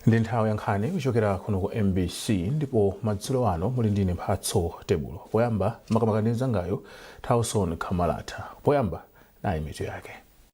ndi nthawi ya nkhani kuchokera kuno ku mbc ndipo madzulo ano muli ndine mphatso tebulo poyamba makamaka ndi mzanga tauson khamalata poyamba nayi mitu yake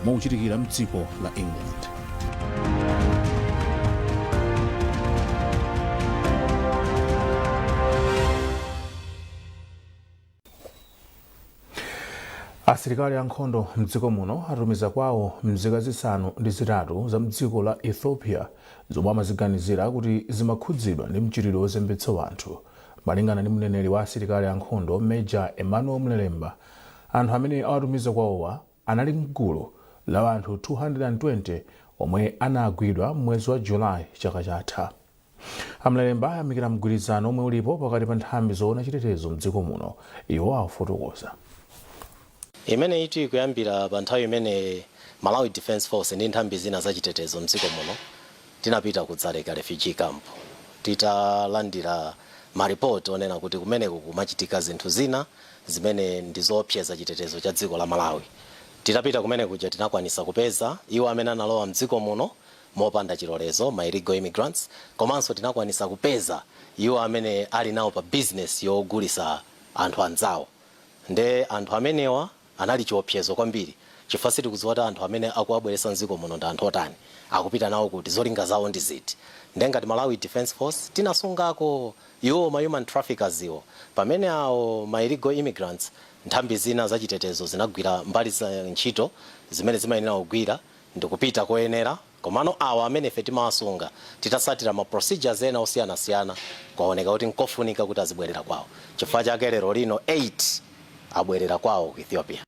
omwe ukuchitikira mdziko la england asilikali ankhondo mdziko muno atumiza kwawo mzika zisanu ndi zitatu za mdziko la ethiopia zomwe amaziganizira kuti zimakhudzidwa ndi mchitidwe wozembetsa anthu malingana ndi mneneri wa asilikali ankhondo major emmanuel mlelemba anthu amene awatumiza kwawowa anali m'gulu la anthu 220 omwe anagwidwa m'mwezi wa July chaka chatha. A Mlelemba ayamikira mgwirizano omwe ulipo pakati pa nthambi zoona chitetezo m'dziko muno. Iwo afotokoza. Imeneyitu ikuyambira pa nthawi imene Malawi Defence Force ndi nthambi zina za chitetezo m'dziko muno tinapita ku Dzaleka Refugee Camp titalandira maripoti onena kuti kumeneko kumachitika zinthu zina. zimene ndi zoopseza chitetezo cha dziko la Malawi. Titapita kumenekuja tinakwanisa kupeza iwo amene analowa mdziko muno mopanda chilolezo, ma illegal immigrants, komanso tinakwanisa kupeza iwo amene ali nawo pa business yogulisa anthu anzawo. Nde anthu amenewa anali chiopsezo kwambiri chifukwa sitikudziwa kuti anthu amene akuwabweretsa mdziko muno ndi anthu otani, akupita nawo kuti, zolinga zawo ndi ziti. Nde ngati Malawi Defense Force tinasungako Iwo ma human traffickers-wo pamene awo ma illegal immigrants nthambi zina za chitetezo zinagwira mbali za ntchito zimene zimayenera kugwira ndikupita koyenera komano awa amene ife timawasunga titasatira ma procedures ena osiyanasiyana kwaoneka kuti nkofunika kuti azibwerera kwawo chifukwa chake lero lino 8 abwerera kwawo ku Ethiopia.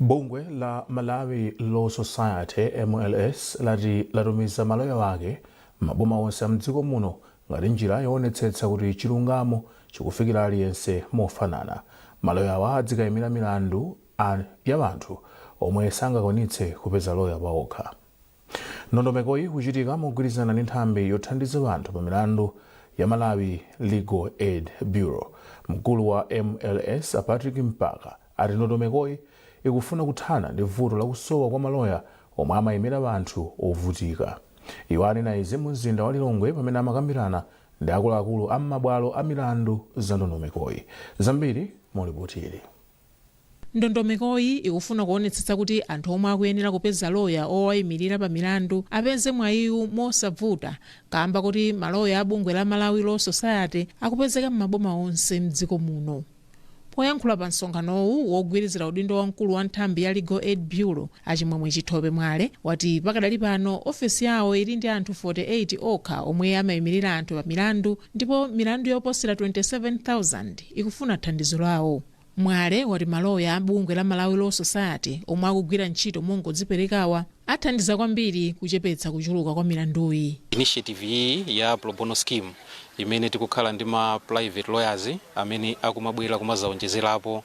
bungwe la malawi law society mls lati latumiza maloya ake maboma onse amdziko muno ngati njira yoonetsetsa kuti chilungamo chikufikira aliyense mofanana maloyawa adzikayimira milandu a- ya anthu omwe sangakwanitse kupeza loya paokha Ndondomekoyi ikuchitika mogwirizana ndi nthambi yothandiza anthu pa milandu ya Malawi Legal Aid Bureau. Mkulu wa mls a Patrick Mpaka ati ndondomekoyi ikufuna kuthana ndi vuto la kusowa kwa maloya omwe amayimira anthu ovutika. Iwo anena izi mu mzinda wa Lilongwe pamene amakambirana ndi akuluakulu a m'mabwalo a milandu za ndondomekoyi. Zambiri mu lipotili. Ndondomekoyi ikufuna kuonetsetsa kuti anthu omwe akuyenera kupeza loya owaimilira pa milandu apeze mwayiwu mosavuta kaamba koti maloya a bungwe la Malawi Law Society akupezeka m'maboma onse m'dziko muno. Poyankhula pa msonkhanowu, wogwirizira udindo wa mkulu wa nthambi ya Legal Aid Bureau, a Chimwemwe Chithope Mwale, wati pakadali pano ofesi yawo ili ndi anthu 48 okha omwe amaimilira anthu pa milandu, Ndipo milandu yoposera 27,000 ikufuna thandizo lawo. Mwale wati maloya a bungwe la Malawi Law Society omwe akugwira ntchito mongodziperekawa athandiza kwambiri kuchepetsa kuchuluka kwa milanduyi. Initiative iyi ya pro bono scheme imene tikukhala ndi ma private lawyers amene akumabwera kumazaonjezerapo uh,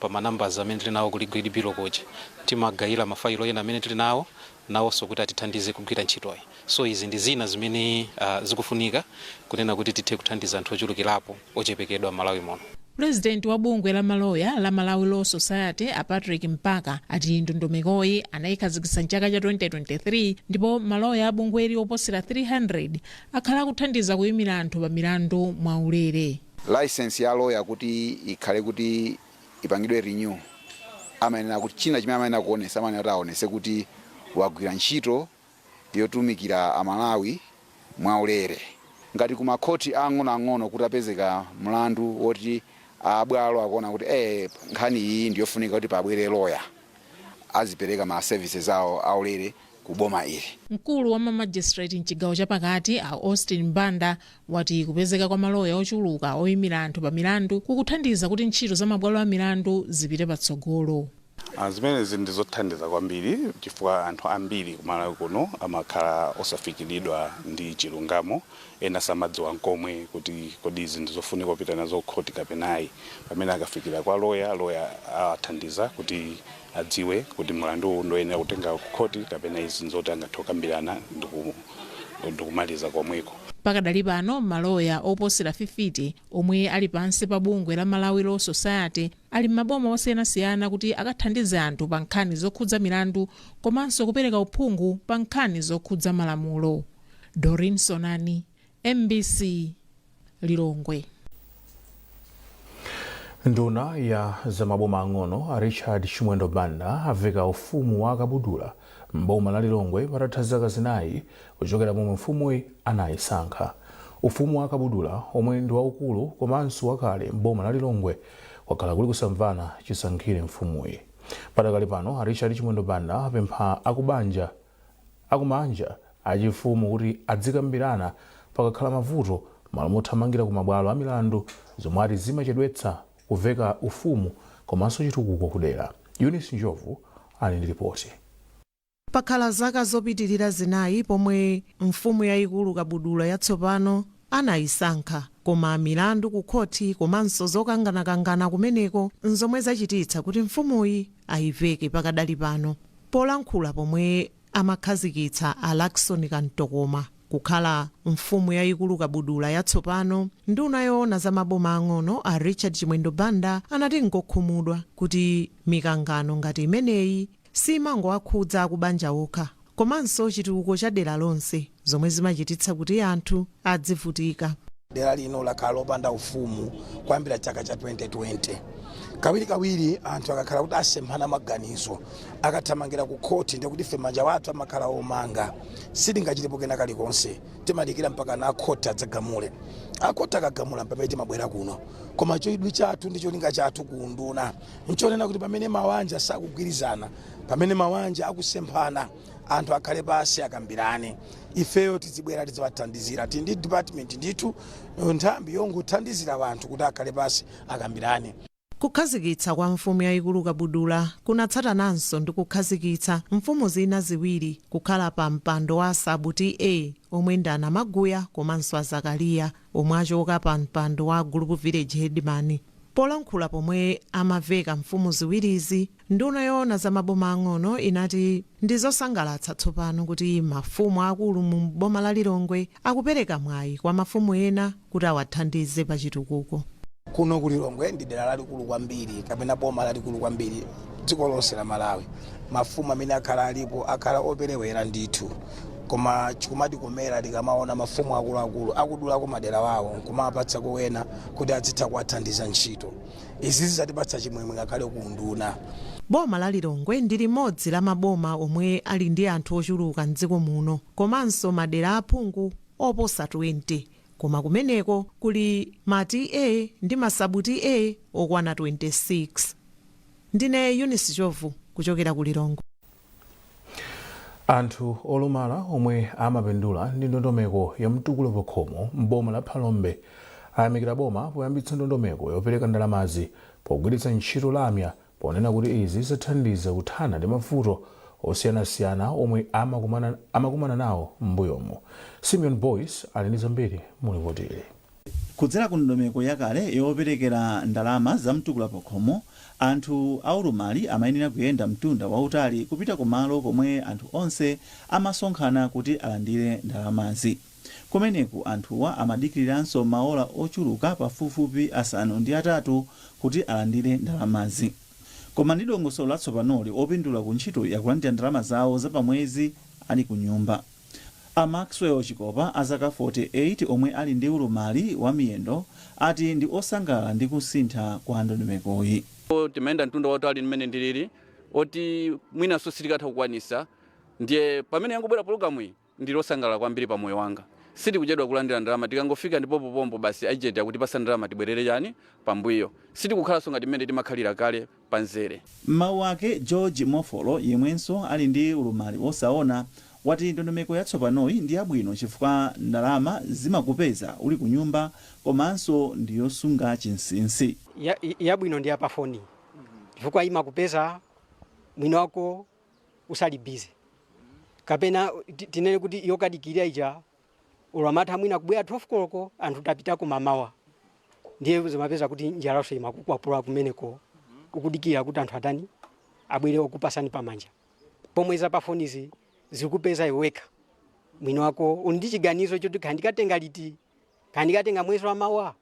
pa ma numbers amene tili nawo ku Legal Aid Bureau kuja timagayira mafailo ena amene tili nawo nawonso kuti atithandize kugwira ntchitoyi. So izi ndi zina zimene zikufunika kunena kuti tithe kuthandiza anthu ochulukilapo ochepekedwa M'malawi muno. Pulezidenti wa bungwe la maloya la Malawi Law Society a Patrick Mpaka ati ndondomekoyi anayikhazikitsa mchaka cha 2023 ndipo maloya a bungweli oposera 300 akhala akuthandiza kuyimira anthu pa milandu mwaulere. Licence ya lawyer kuti ikhale kuti ipangidwe renew amayenera kuti china chimene amayenera kuonesa amayenera kuti aonese kuti wagwira ntchito yotumikira aMalawi mwaulere ngati ku makhoti ang'onoang'ono kuti apezeka mlandu woti abwalo akuona kuti eh, nkhani iyi ndiyofunika kuti pabwere loya azipereka ma services awo aulere ku boma ili. Mkulu wa ma magistrate mchigawo cha pakati a Austin Banda wati kupezeka kwa maloya ochuluka oyimira anthu pa milandu kukuthandiza kuti ntchito za mabwalo a milandu zipite patsogolo. Zimenezi ndi zothandiza kwambiri chifukwa anthu ambiri ku Malawi kuno amakhala osafikiridwa ndi chilungamo, ena samadziwa nkomwe kuti kodi izi ndi zofunika kupita nazo ku khoti kapena ayi. Pamene akafikira kwa loya, loya awathandiza kuti adziwe kuti mlandu uwu ndioyenera kutenga ku khoti kapena izi nzoti angathe kukambirana ndikumaliza komweko. Pakadali pano maloya oposera fifite omwe ali pansi pa bungwe la Malawi Law Society ali m'maboma osiyanasiyana kuti akathandize anthu pa nkhani zokhudza milandu komanso kupereka uphungu pa nkhani zokhudza malamulo. Doreen Sonani, MBC. Lilongwe. Nduna ya za maboma ang'ono a Richard Chimwendo Banda aveka ufumu wa Kabudula m'boma la Lilongwe patatha zaka zinayi kuchokera pomwe mfumuyi anayisankha. Ufumu wa Kabudula omwe ndi waukulu komanso wakale m'boma la Lilongwe kwakhala kuli kusamvana chisankhire mfumuyi. Padakali pano a Richard Chimwendo Banda apempha akubanja akumanja achifumu kuti adzikambirana pakakhala mavuto mmalo mothamangira ku mabwalo amilandu zomwe ati zimachedwetsa kuveka ufumu komanso chitukuko kudera. Eunice Njovu ali ndi lipoti. Pakhala zaka zopitilira zinayi pomwe mfumu yayikulu Kabudula yatsopano anayisankha. Koma milandu ku khoti komanso zokanganakangana kumeneko nzomwe zachititsa kuti mfumuyi ayiveke pakadali pano. Polankhula pomwe amakhazikitsa a Lackson Kantokoma kukhala Mfumu yayikulu Kabudula yatsopano, nduna yoona za maboma ang'ono a Richard Chimwendo Banda anati ngokhumudwa kuti mikangano ngati imeneyi siimangowakhudza akubanja okha, komanso chitukuko cha dera lonse, zomwe zimachititsa kuti anthu adzivutika. Dera lino lakhala lopanda ufumu kuyambira chaka cha 2020. Kawirikawiri anthu akakhala kuti asemphana maganizo, akathamangira kukhoti ndiye kuti ife manja athu amakhala omanga, sitingachitepo kena kalikonse. Timadikira mpakana akhoti adzagamule. Akhoti akagamula mpamene timabwera kuno. Koma chidwi chathu ndi cholinga chathu ku unduna nchonena kuti pamene mawanja sakugwirizana pamene mawanja akusemphana anthu akhale pansi akambirane ifeyo tizibwera tiziwathandizira tili ndi department ndithu nthambi yongothandizira wanthu kuti akhale pansi akambirane Kukhazikitsa kwa mfumu yayikulu Kabudula kunatsatananso ndi kukhazikitsa mfumu zina ziwiri kukhala pa mpando wa Sub TA omwe ndi a Namaguya komanso a Zakaliya omwe achoka pa mpando wa Group Village Headman. Polankhula pomwe amaveka mfumu ziwirizi, nduna yoona za maboma ang'ono inati ndi zosangalatsa tsopano kuti mafumu aakulu muno m'boma la Lilongwe akupereka mwayi kwa mafumu ena kuti awathandize pa chitukuko. Kuno ku Lilongwe ndi dera lalikulu kwambiri kapena boma lalikulu kwambiri dziko lonse la Malawi. Mafumu amene akhala alipo akhala operewera ndithu koma chikumatikomera tikamaona mafumu akuluakulu akudulako madera awo nkumawapatsako wena kuti adzitha kuwathandiza ntchito. Izi zizatipatsa chimwemwe ngakhale ku unduna. Boma la Lilongwe ndi limodzi la maboma omwe ali ndi anthu ochuluka m'dziko muno komanso madera a phungu oposa 20 koma kumeneko kuli ma TA ndi ma sub TA okwana 26. Ndine Eunice Njovu kuchokera ku Lilongwe. Anthu olumala omwe amapindula ndi ndondomeko ya mtukula pakhomo m'boma la Phalombe ayamikira boma poyambitsa ndondomeko yopereka ndalamazi pogwiritsa ntchito lamya ponena kuti izi zathandiza kuthana ndi mavuto osiyanasiyana omwe amakumana nawo m'mbuyomu. Simeon Boyce ali ndi zambiri mu lipotili. Kudzera ku ndondomeko yakale yoperekera ndalama za Mtukula Pakhomo, anthu aulumali amayenera kuyenda mtunda wautali kupita ku malo komwe anthu onse amasonkhana kuti alandire ndalamazi. Kumeneku anthuwa amadikiriranso maola ochuluka pafupifupi asanu ndi atatu kuti alandire ndalamazi. Koma ndi dongosolo latsopanoli, opindula ku ntchitoyi akulandira ndalama zawo za pamwezi ali kunyumba. A Maxwell Chikopa a zaka 48 omwe ali ndi ulumali wa miyendo ati ndi osangalala ndi kusintha kwa ndondomekoyi. Timayenda mtunda wautali mmene ndilili oti mwinanso sitikatha kukwanisa ndiye pamene yangobwera pologalamu iyi ndili osangalala kwambili pa moyo wanga. Sitikuchedwa kulandila ndalama tikangofika ndi pompo pompo basi agent akutipasa ndalama tibwerere chani pambuyo. Sitikukhalanso ngati mmene timakhalira kale. pa mzere. M'mawu ake, George Mofolo, yemwenso ali ndi ulumali wosaona, wati ndondomeko yatsopanoyi ndi yabwino chifukwa ndalama zimakupeza uli kunyumba komanso ndi yosunga chinsinsi. Yabwino ndi ya pa foni chifukwa imakupeza mwiniwako usali busy kapena tinene kuti yokadikilira ija olo amatha mwina kubwera 12 koloko anthu tapitako mamawa ndiye zimapeza kuti njalaso imakukwapula kumeneko ukudikira kuti anthu atani abwere okupasani pamanja pomwe za pafonizi zikupeza iwe wekha mwini wako uli ndi chiganizo choti kaya ndikatenga liti kaya ndikatenga mwezi wa mawa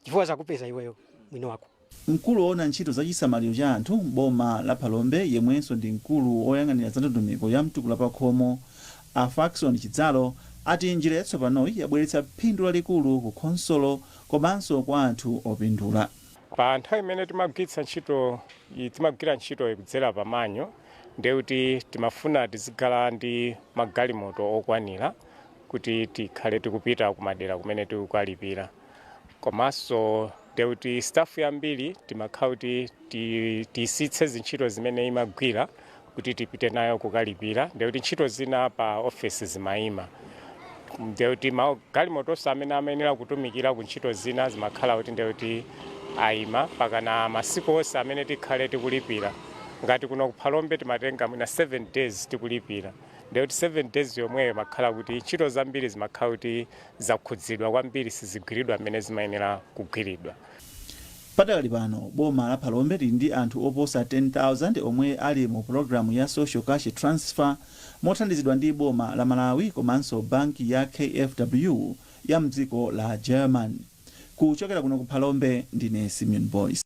chifukwa zakupeza iweyo mwini wako. Mkulu owona ntchito za chisamaliro cha anthu m'boma la Phalombe yemwenso ndi mkulu oyang'anira za ndondomeko ya mtukula pakhomo, a Fackson Chidzalo ati njira yatsopanoyi yabweretsa phindu lalikulu ku khonsolo komanso kwa anthu opindula. Pa nthawi imene timagwiritsa ntchito timagwira ntchitoyi kudzera pa manual ndekuti timafuna tizikhala ndi magalimoto okwanira kuti tikhale tikupita kumadera kumene tikukalipira komanso nde kuti staff yambiri timakhala kuti ti- tiyisiyitse zintchito zimene imagwira kuti tipite nayo kukalipira nde kuti ntchito zina pa ofesi zimayima nde kuti ma- galimotonso amene amayenera kutumikira ku ntchito zina zimakhala kuti nde kuti ayima pakana masiku onse amene tikhale tikulipira ngati kuno ku Phalombe timatenga mwina 7 days tikulipira ndiye kuti 7 days yomweyo imakhala kuti ntchito zambiri zimakhala kuti zakhudzidwa kwambiri sizigwiridwa mmene zimayenera kugwiridwa. Padakali pano, boma la Phalombe lili ndi anthu oposa 10,000 omwe ali mu pulogalamu ya Social Cash Transfer mothandizidwa ndi boma la Malawi komanso banki ya KFW ya mdziko la Germany. Kuchokera kuno ku Phalombe, ndine Simeon Boyce.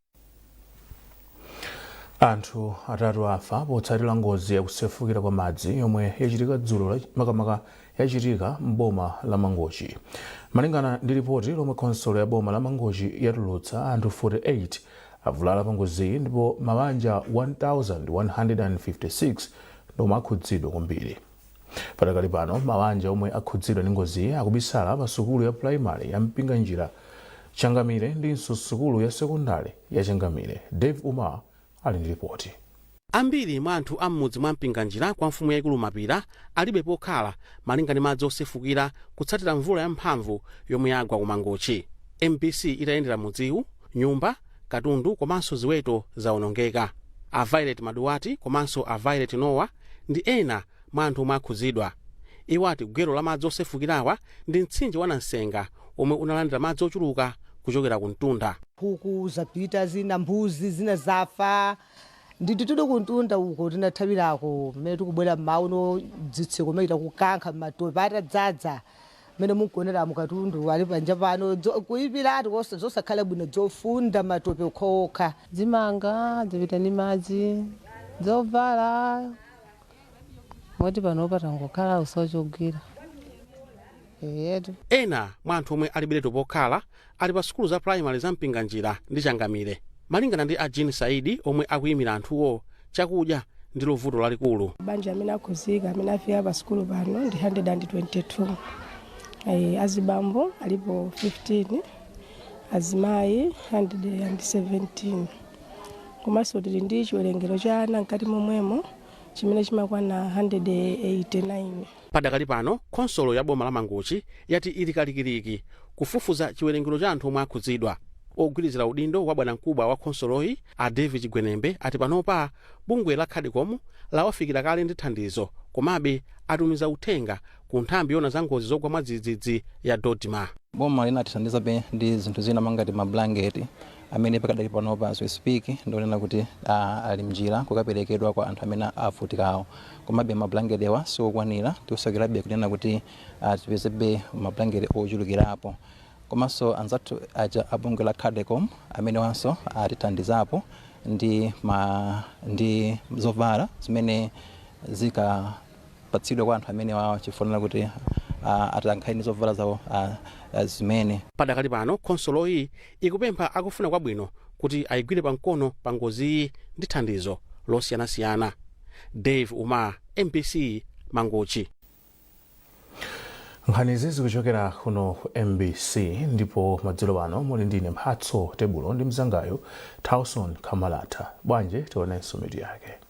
anthu atatu afa potsatira ngozi yakusefukira kwa madzi yomwe yachitika dzulo la- makamaka yachitika m'boma la mangochi malingana ndi ripoti lomwe khonsolo ya boma la mangochi yatulutsa anthu 48 avulala pa ngoziyi ndipo mabanja 1156 ndiwo akhudzidwa kwambiri Padakali pano mawanja omwe akhudzidwa ndi ngoziyi akubisala pa sukulu ya pulayimale ya Mpinganjira, Changamire ndinso sukulu ya sekondale ya Changamire. Dave Umar ali ndi lipoti. Ambiri mwa anthu a m'mudzi mwa Mpinganjira kwa mfumu yaikulu Mapira alibe pokhala malinga ndi madzi osefukira kutsatira mvula ya mphamvu yomwe yagwa ku Mangochi. Mbc itayendera mudziwu, nyumba. Katundu komanso ziweto zaonongeka. A Violet Maduwati komanso a Violet Nowa ndi ena mwa anthu omwe akhudzidwa. Iwo ati gwero la madzi osefukirawa ndi mtsinje wa Nansenga womwe unalandira madzi ochuluka kuchokera ku mtunda. Nkhuku zapita zina, mbuzi zina zafa. Ndi titude kumtunda uko tinathawirako, mmene tikubwera mmawa uno dzitseko mochita kukankha m'matope atadzadza. Mmene mukuoneramu katundu ali panja pano kuipiratu zosakhala bwino dzofunda matope okhaokha. Dzimanga dzapita ndi madzi, dzovala moti panopa tangokhala kusowa chogwira eyetu. Ena mwa anthu omwe alibiretu pokhala ali pa sukulu za pulayimale za Mpinganjira ndi Changamire. Malingana ndi a Jean Saidi omwe akuyimira anthuwo, chakudya ndilo vuto lalikulu. Mabanja amene akhuzika amene afika pa sukulu pano ndi 122. Eh, azibambo alipo 15, azimayi 117. Komanso tili ndi chiwerengero cha ana mkati momwemo chimene chimakwana 189. Padakali pano, khonsolo ya boma la Mangochi yati ili kalikiliki kufufuza chiwerengero cha anthu omwe akhudzidwa. Ogwirizira udindo wa bwanamkubwa wa khonsoloyi, a David Chigwenembe, ati panopa bungwe la Cadecom lawafikira kale ndi thandizo komabe atumiza uthenga ku nthambi yoona za ngozi zogwa mwadzidzidzi ya DoDMA. Boma linatithandizabe ndi zinthu zina monga ngati mabulangeti amene pakadali panopa as we speak ndikunena kuti ali mnjira kukapelekedwa kwa anthu amene avutikawo komabe ma blanketewa siwokwanira tikusakirabe kunena kuti tipezebe ma blankete ochulukirapo komanso anzathu aja a bungwe la cadecom amenewanso atithandizapo ndi ma ndi zovala zimene zikapatsidwe kwa anthu amenewawa chifunira kuti atakhala ndi zovala zawo zimene Padakali pano khonsoloyi ikupempha akufuna kwabwino kuti ayigwire pamkono pa ngoziyi ndi thandizo losiyanasiyana dave umar mbc mangochi nkhanizi zikuchokera kuno ku mbc ndipo madzulo pano muli ndine mphatso tebulo ndi mzangayo tauson kamalata bwanje tionenso mitu yake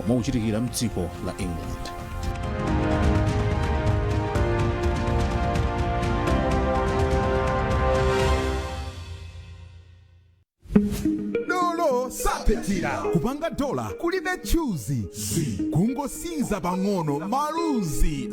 omwe ukuchitikira mdziko la england dolo sapitira kupanga dola kulibe chuluzi kungosinza pang'ono maluzi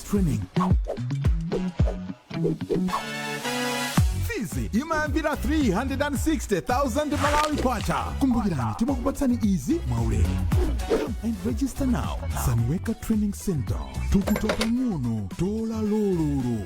Training. fizi imayambira 360,000 malawi kwacha kumbukirani timakupatsani izi mwaulere Come and register now sanwecka training center thukuta pang'ono dola lololo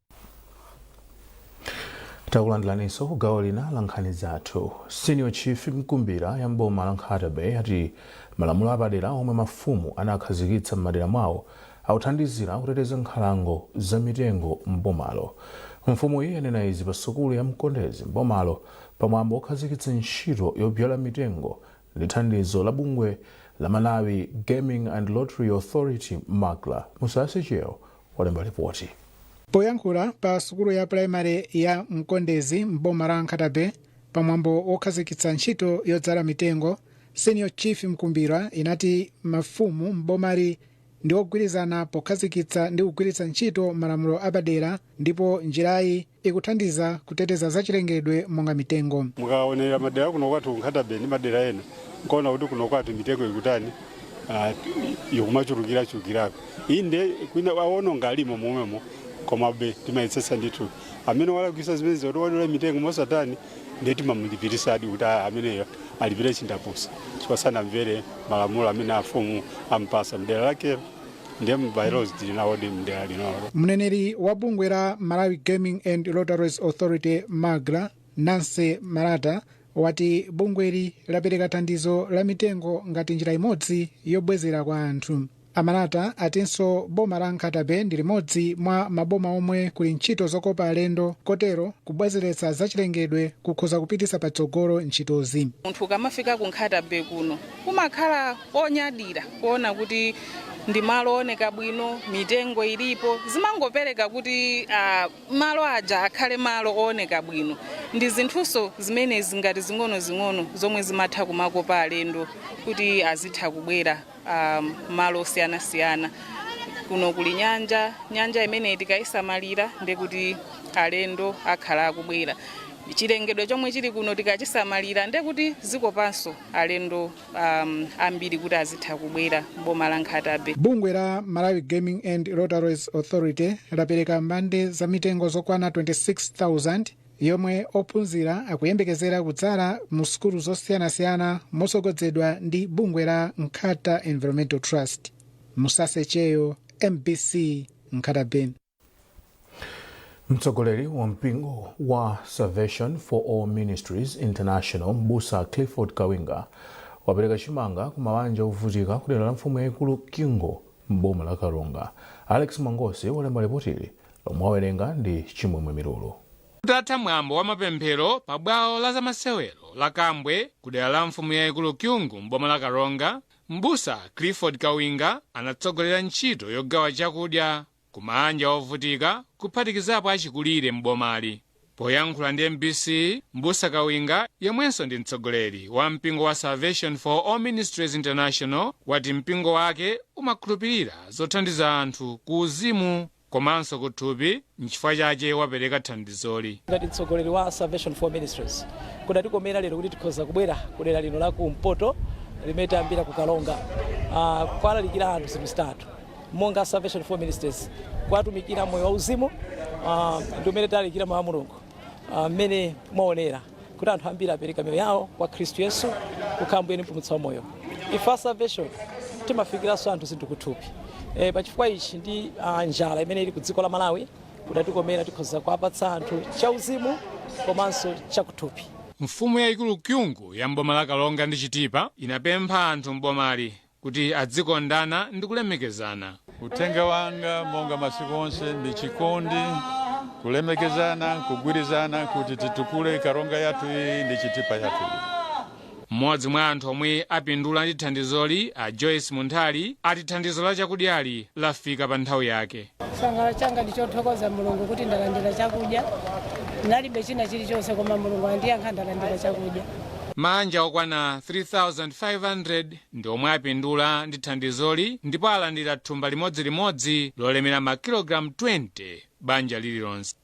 takulandilaninso ku gawo lina la nkhani zathu senior chief mkumbira ya mboma la nkhata bay ati malamulo apadera omwe mafumu anakhazikitsa m'madera mwawo akuthandizira kuteteza nkhalango za mitengo mbomalo mfumuyi yanena izi pa sukulu ya mkondezi mbomalo pamwambo okhazikitsa ntchito yobyala mitengo Ndi thandizo la bungwe la Malawi Gaming and Lotteries Authority, Magla, Musase Cheo walemba lipoti. Poyankhula pa sukulu ya pulayimale ya Mkondezi m'boma la Nkhata-Bay pamwambo wokhazikitsa ntchito yodzala mitengo, Senior Chief Mkumbira inati mafumu m'bomali ndi ogwirizana pokhazikitsa ndi kugwiritsa ntchito malamulo apadera ndipo njirayi, ikuthandiza kuteteza zachilengedwe monga mitengo. Mukaonera madera akuno kwathu ku Nkhata-Bay ndi madera ena mukaona kuti kuno kwathu mitengo ikutani ah, ikumachulukira chulukirako inde kwina awononga alimo momwemo komabe timayetsetsa ndithu amene walakwisa zimenezo kuti wadula mitengo mosatani ndiye timamulipirisadi kuti ah, ameneyo alipire chindapusa chifukwa sanamvere malamulo amene afumu ampasa mdera lakelo ndiye ma by-laws tili nawodi mdera linolo mneneri wa bungwe la malawi gaming and lotteries authority magla nancy malata wati bungweli lapereka thandizo la mitengo ngati njira imodzi yobwezera kwa anthu a malata atinso boma la nkhata bay ndi limodzi mwa maboma omwe kuli ntchito zokopa alendo kotero kubwezeretsa zachilengedwe kukhoza kupititsa patsogolo ntchitozi munthu ukamafika ku nkhata bay kuno Kumakhala konyadira kuona kuti ndi malo ooneka bwino, mitengo ilipo, zimangopereka kuti ah, malo aja akhale malo ooneka bwino. Ndi zinthunso zimenezi ngati zing'onozing'ono zomwe zimatha kumakopa alendo kuti azitha kubwera ah, malo osiyanasiyana. Kuno kuli nyanja, nyanja imeneyi tikayisamalira nde kuti alendo akhala akubwera. Chilengedwe chomwe chili kuno tikachisamalira nde kuti zikopanso alendo um, ambiri kuti azitha kubwera m'boma la nkhata bay bungwe la malawi gaming and lotteries authority lapereka mbande za mitengo zokwana 26000 yomwe ophunzira akuyembekezera kudzala mu sukulu zosiyanasiyana motsogozedwa ndi bungwe la nkhata bay environmental trust musasecheyo mbc nkhata bay mtsogoleri wa mpingo wa salvation for all ministries international mbusa clifford kawinga wapereka chimanga ku mabanja ovutika ku dera la mfumu yayikulu kyungu m'boma la karonga alex mangosi walemba lipotili lomwe awerenga ndi chimwemwe milulu kutatha mwambo wa mapemphero pa bwalo la zamasewero la kambwe ku dera la mfumu yayikulu kyungu m'boma la karonga mbusa clifford kawinga anatsogolera ntchito yogawa chakudya kumaanja ovutika kuphatikizapo achikulire m'bomali. Poyankhula ndi mbc, Mbusa Kawinga yemwenso ndi mtsogoleri wa mpingo wa Salvation for All Ministries International wati mpingo wake umakhulupirira zothandiza anthu ku uzimu komanso kuthupi nchifukwa chache wapereka thandizoli. Ngati mtsogoleri wa Salvation for All Ministries kudatikomera lero kuti tikhoza kubwera kudera lino la kumpoto limene tayambira ku Karonga uh, kuwalalikira anthu zinthu zitatu monga Salvation for Ministries kuwatumikira moyo wauzimu uh, ndi umene talalikira mawu a Mulungu mmene uh, mwaonera kuti anthu ambiri apereka miyoyo yawo kwa Khristu Yesu kukhala Mbuye ndi Mpulumutsi wa moyo. Ife a Salvation timafikiranso anthu zinthu kuthupi e, pa chifukwa ichi ndi uh, njala imene ili ku dziko la Malawi kudatikomera tikhoza kuwapatsa anthu chauzimu komanso chakuthupi. Mfumu yayikulu Kyungu ya m'boma la Karonga ndi Chitipa inapempha anthu m'bomali kuti adzikondana ndi kulemekezana. Uthenga wanga monga masiku onse ndi chikondi, kulemekezana, kugwirizana kuti titukule karonga yathu iyi ndi chitipa yathu iyi. Mmodzi mwa anthu omwe apindula ndi thandizoli a Joyce Munthali ati thandizo la chakudyali lafika pa nthawi yake. Chisangalalo changa ndi chothokoza Mulungu kuti ndalandira chakudya. Ndalibe china chilichonse koma Mulungu andiyankha ndalandira chakudya. Maanja okwana 3,500 ndi omwe apindula ndi thandizoli ndipo alandira thumba limodzilimodzi lolemera makilogalamu 20 banja lililonse.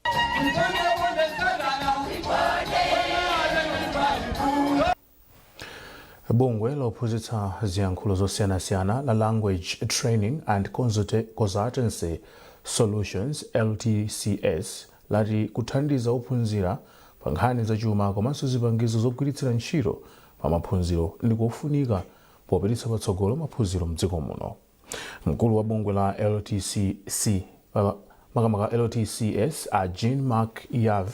Bungwe lophunzitsa ziyankhulo zosiyanasiyana la language training and consultancy solutions ltcs lati kuthandiza ophunzira pa nkhani za chuma komanso zipangizo zogwiritsira ntchito pa maphunziro ndi kofunika popititsa patsogolo maphunziro mdziko muno. Mkulu wa bungwe la LTCS a Jean Marc Yav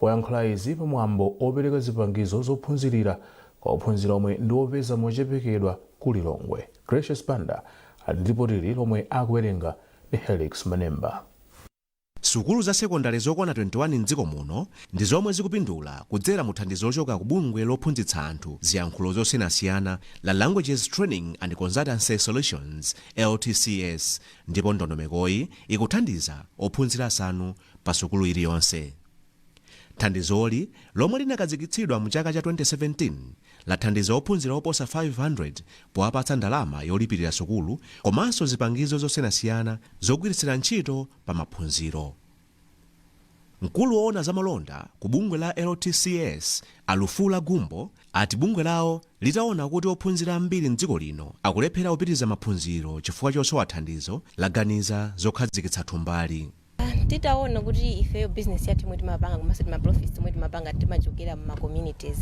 wayankhula izi pa mwambo opereka zipangizo zophunzirira kwa ophunzira omwe ndi opeza mochepekedwa ku Lilongwe. Gracious Banda ali ndi lipoti lomwe akuwerenga ndi Helix Manemba. Sukulu za sekondale zokwana 21 m'dziko muno ndi zomwe zikupindula kudzera mu thandizo lochoka ku bungwe lophunzitsa anthu ziyankhulo zosiyanasiyana la Languages Training and Consultancy Solutions, LTCS, ndipo ndondomekoyi ikuthandiza ophunzira asanu pa sukulu iliyonse. Thandizoli, lomwe linakazikitsidwa mu chaka cha 2017, lathandiza ophunzira oposa 500 powapatsa ndalama yolipirira sukulu komanso zipangizo zosiyanasiyana zogwiritsira ntchito pa maphunziro. Mkulu woona za malonda ku bungwe la LTCS, a Alufula Gumbo, ati bungwe lawo litaona kuti ophunzira ambiri m'dziko lino akulephera kupitiriza maphunziro chifukwa chosowa thandizo, laganiza zokhazikitsa thumbali. titaona kuti ifeyo business yathu yomwe timapanga komanso tima profits omwe timapanga timachokera mu ma communities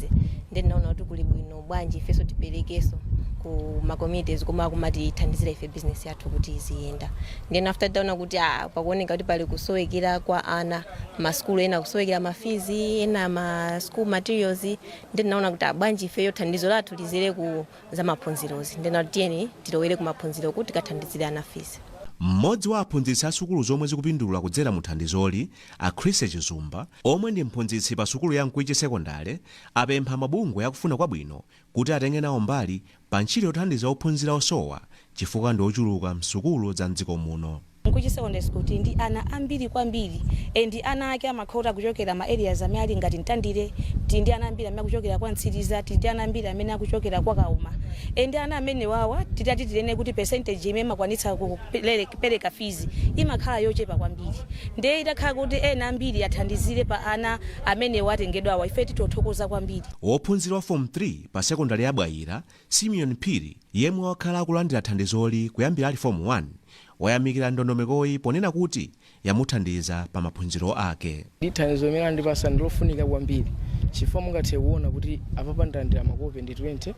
ndiye tinaona kuti kuli bwino bwanji ifenso tiperekenso ku ma communities komwe akumatithandizira ife business yathu kuti iziyenda then after titaona kuti ah, pakuoneka kuti pali kusowekera kwa ana masukulu ena kusowekera ma fees ena ma school materials ndiye tinaona kuti ah, bwanji ifeyo thandizo lathu lidzere ku za maphunzirozi ndiye tinaona kuti tiyeni tilowere ku maphunziroku tikathandizire ana fees. M'modzi wa aphunzitsi a sukulu zomwe zikupindula kudzera mu thandizoli, a Chrissy Chizumba, omwe ndi mphunzitsi pa sukulu ya Mkwichi Sekondale, apempha mabungwe akufuna kwabwino kuti atenge nawo mbali pa ntchito yothandiza ophunzira osowa chifukwa ndi ochuluka m'sukulu za m'dziko muno. Mkwichi secondary school tili ndi ana ambiri kwambiri and ana ake amakhota kuchokera ma areas amene ali ngati Mtandire tili ndi ana ambiri amene akuchokera kwa Mtsiriza tili ndi ana ambiri amene akuchokera kwa Kauma and ana amenewa titati tinene kuti percentage imene imakwanitsa kupereka fees imakhala yochepa kwambiri ndiye itakhala kuti ena ambiri athandizire pa ana amenewa atengedwawa ife titothokoza kwambiri. Wophunzira wa Form 3 pa sekondale ya Bwaila, Simeon Phiri, yemwe wakhala akulandira thandizoli kuyambira ali Fomu 1, wayamikira ndondomekoyi ponena kuti yamuthandiza pa maphunziro ake. Thandizo limene andipatsa ndi lofunika kwambiri chifukwa mungathe kuona kuti apapa ndalandira makope ndi 20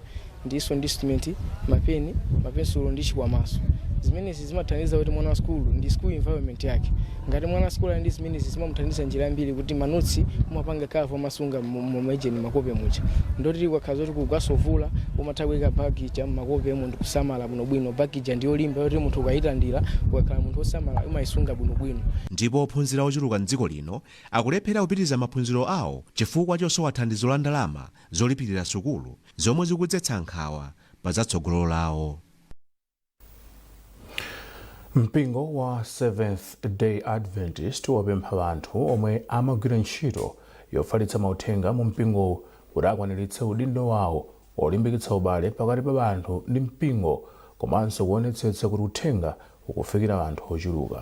ndinso ndi instrument, mapeni, mapensulo ndi chikwamanso. Zimenezi. zimathandiza kuti mwana wa sukulu ndi school environment yake ngati mwana wa sukulu ali ndi zimenezi zimamuthandiza njira zambiri kuti manotsi umapanga cover umasunga mmene makope muja ndoti ukakhala zoti kugwasovula umatha kuyika bag ija mmakopemo ndikusamala bwinobwino bag ija ndi yolimba yoti munthu ukayilandira ukakhala munthu wosamala umayisunga bwinobwino ndipo ophunzira ochuluka m'dziko lino akulephera kupitiriza maphunziro awo chifukwa chosowa thandizo la ndalama zolipirira sukulu zomwe zikudzetsa nkhawa pa za tsogolo lawo mpingo wa seventh day adventist wapempha anthu omwe amagwira ntchito yofalitsa mauthenga mu mpingowu kuti akwaniritse udindo wawo olimbikitsa ubale pakati pa anthu ndi mpingo komanso kuonetsetsa kuti uthenga ukufikira anthu ochuluka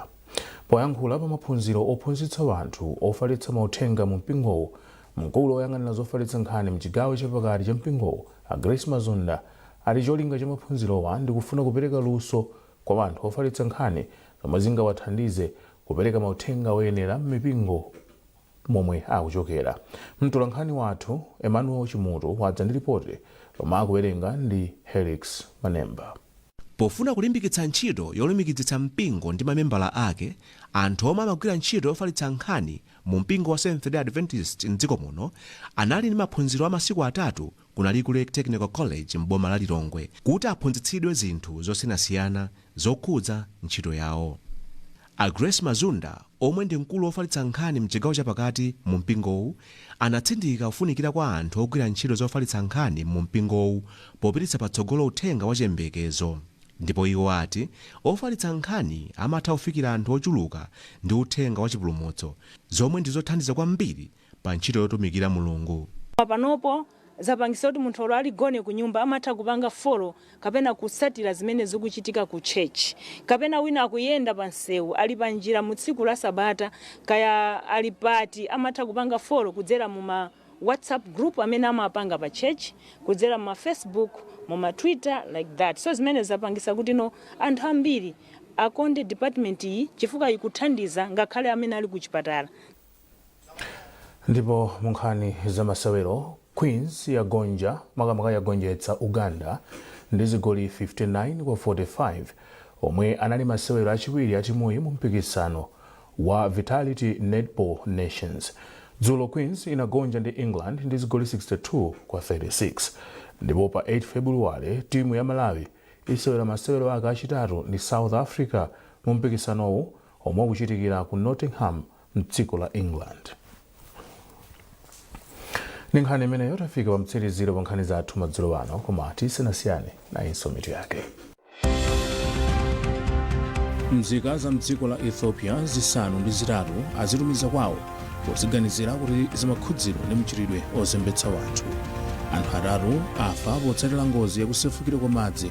poyankhula pa maphunziro ophunzitsa anthu ofalitsa mauthenga mu mpingowu mkulu woyang'anira zofalitsa nkhani mchigawo chapakati cha mpingowu a grace mazunda ati cholinga cha maphunzirowa ndi kufuna kupereka luso kwa anthu ofalitsa nkhani zomwe zingawathandize kupereka mauthenga oyenera m'mipingo momwe akuchokera. Mtolankhani wathu Emmanuel Chimutu wadza ndi lipoti lomwe akuwerenga ndi Helix Manemba. Pofuna kulimbikitsa ntchito yolumikizitsa mpingo ndi mamembala ake, anthu omwe amagwira ntchito yofalitsa nkhani mu mpingo wa Seventh-day Adventist m'dziko muno anali ndi maphunziro a masiku atatu ku Nalikule Technical College m'boma la Lilongwe kuti aphunzitsidwe zinthu zosiyanasiyana zokhudza ntchito yawo. A Grace Mazunda omwe ndi mkulu wofalitsa nkhani mchigawo chapakati mu mpingowu anatsindika kufunikira kwa anthu ogwira ntchito zofalitsa nkhani mu mpingowu popititsa patsogolo uthenga wa chiyembekezo ndipo iwo ati ofalitsa nkhani amatha kufikira anthu ochuluka ndi uthenga wa chipulumutso zomwe ndi zothandiza kwambiri pa ntchito yotumikira Mulungu. Panopo zapangitsa kuti munthu olo ali gone kunyumba amatha kupanga follow kapena kutsatira zimene zikuchitika ku church. Kapena wina akuyenda pa msewu, ali pa njira mu tsiku la sabata, kaya ali pati amatha kupanga follow kudzera mu ma whatsapp group amene amapanga pa church, kudzera mu ma facebook, mu ma twitter like that. So zimene zapangitsa kuti no anthu ambiri akonde department iyi chifukwa ikuthandiza ngakhale amene ali ku chipatala. Ndipo mu nkhani za masewero, Queens yagonja makamaka yagonjetsa Uganda ndi zigoli 59 kwa 45 omwe anali masewero achiwiri a timuyi mu mpikisano wa Vitality Netball Nations. Dzulo Queens inagonja ndi England ndi zigoli 62 kwa 36. Ndipo pa 8 February timu ya Malawi isewera masewero ake achitatu ndi South Africa mu mpikisanowu omwe ukuchitikira ku Nottingham mdziko la england ndi nkhani imeneyo tafika pa mtsiriziro pa nkhani zathu madzulo ano koma tisanasiyane nayinso mitu yake mzika za mdziko la ethiopia zisanu ndi zitatu azitumiza kwawo poziganizira kuti zimakhudzidwa ndi mchitidwe ozembetsa anthu anthu atatu afa potsatira ngozi yakusefukira kwa madzi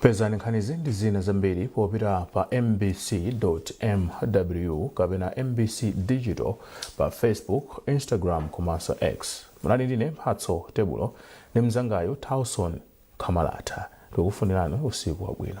pezani nkhanizi ndi zina zambiri popita pa mbc.mw kapena mbc digital pa facebook instagram komanso x munali ndine mphatso tebulo ndi mzangayo tauson kamalata tikufunirani usiku wabwino